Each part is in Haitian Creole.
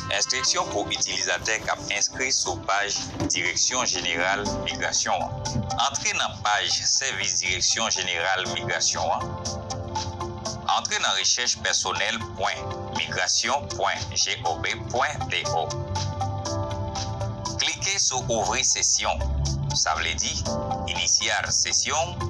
Enstriksyon pou itilizatè k ap enskri sou paj Direksyon Jeneral Migrasyon an. Antre nan paj Sèvis Direksyon Jeneral Migrasyon an. Antre nan rechèch pèsonèl pwen migrasyon pwen gov pwen do. Klike sou Ouvri Sesyon, sa vle di, Iniciar Sesión.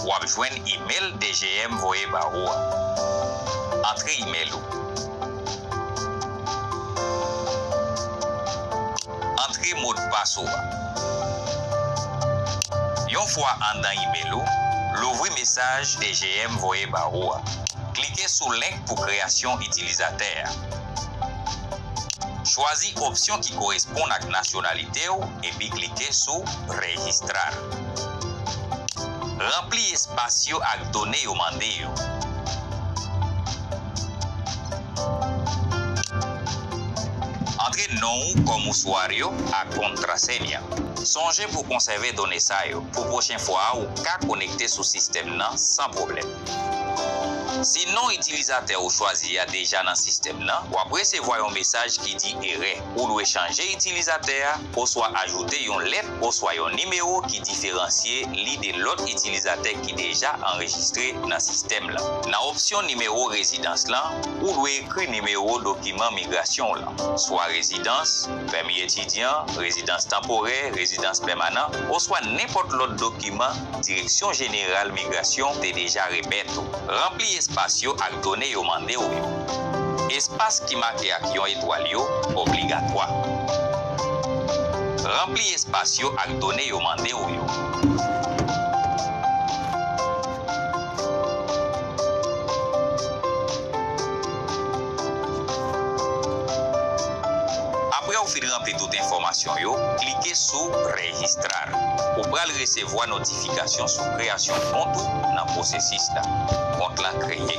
W ap jwenn imel DGM voye ba ou a. Antre imel ou. Antre modpas ou a. Yon fwa anndan imel ou, louvri mesaj DGM voye ba ou a. Klike sou link pou kreyasyon itilizatè a. Chwazi opsyon ki koresponn ak nasyonalite ou epi klike sou Registrar. Ranpli espas yo ak done yo mande yo. Antre non ou kòm ouswar yo ak kontrasenya. Sonje pou w konsève done sa yo pou pwochen fwa ou ka konekte sou sistèm nan san pwoblèm. Si non itilizatè ou chwazi a deja nan sistèm nan, w ap resevwa yon mesaj ki di erè. Ou dwe chanje itilizatè a oswa ajoute yon lèt oswa yon nimewo ki diferansye li de lòt itilizatè ki deja anrejistre nan sistèm lan. Nan opsyon Nimewo Rezidans lan, ou dwe ekri nimewo dokiman migrasyon w lan, swa rezidans, pèmi etidyan, rezidans tanporè, rezidans pèmanan, oswa nenpòt lòt dokiman Direksyon Jeneral Migrasyon te deja remèt ou. Ranpli espas yo ak done yo mande w yo. Espas ki make ak yon etwal yo obligatwa. Ranpli espas yo ak done yo mande w yo. Apre ou fin ranpli tout enfòmasyon yo, klike sou Registrar. Ou pral resevwa notifikasyon sou kreyasyon kont ou nan pwosesis la. Kont la kreye.